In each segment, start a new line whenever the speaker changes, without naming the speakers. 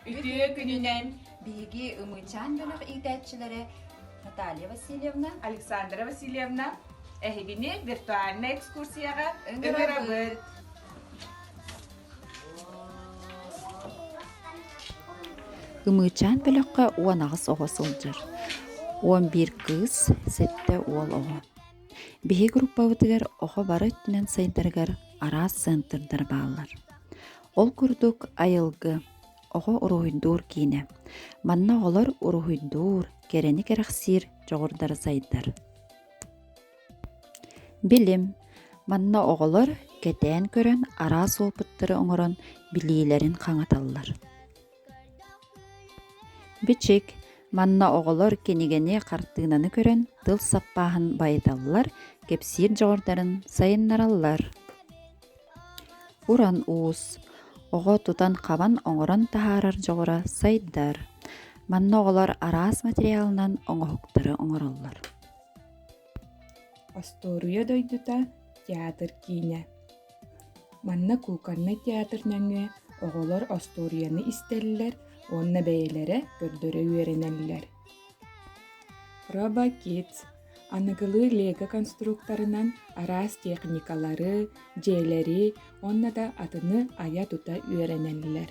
Үтүө күнүнэн биһиги Ымыычаан бөлөх иитээччилэрэ Наталья Васильевна, Александра Васильевна эһигини виртуальнай экскурсияҕа ыҥырабыт. Ымыычаан бөлөххө уон аҕыс оҕо сылдьар. Уон биир кыыс, сэттэ уол оҕо. Биһи группабытыгар оҕо бары өттүнэн сайдарыгар араас центрдар бааллар. Ол курдук айылгы, оҕо уруһуйдуур киинэ. Манна оҕолор уруһуйдуур, кэрэни кэрэхсиир дьоҕурдара сайдар. Билим. Манна оҕолор кэтээн көрөн араас уопуттары оҥорон билиилэрин хаҥаталлар. Бичик манна оҕолор кинигэни, хартыынаны көрөн, тыл саппааһын байыталлар, кэпсиир дьоҕурдарын сайыннараллар. Уран уус оҕо тутан-хабан оҥорон таһаарар дьоҕура сайдар. Манна оҕолор араас материалынан оҥоһуктары оҥороллор. Остуоруйа дойдута театр киинэ. Манна кууканнай театр нөҥүө оҕолор остуоруйаны истэллэр уонна бэйэлэрэ көрдөрө үөрэнэллэр. Robo Kids аныгылыы лего конструкторынан араас техникалары, дьиэлэри уонна да атыны айа-тута үөрэнэллэр.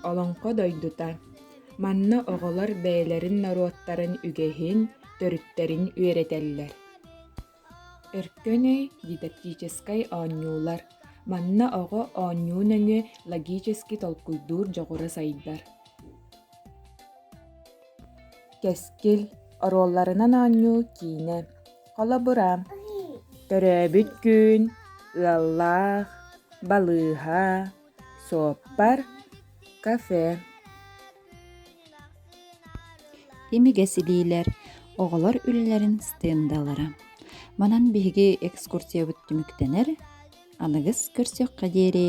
Олоҥхо дойдута манна оҕолор бэйэлэрин норуоттарын үгэһин, төрүттэрин үөрэтэллэр. Өркөн өй дидактическай оонньуулар манна оҕо оонньуу нөҥүө логически толкуйдуур дьоҕура сайдар. Кэскил оруолларынан оонньуу киинэ, холобура, төрөөбүт күн, ыаллаах, балыыһа, Суоппар, кафе Имигэс илиилэр, оҕолор үлэлэрин стендалара. Манан биһиги экскурсиябыт түмүктэнэр. Аныгыс көрсүөххэ диэри.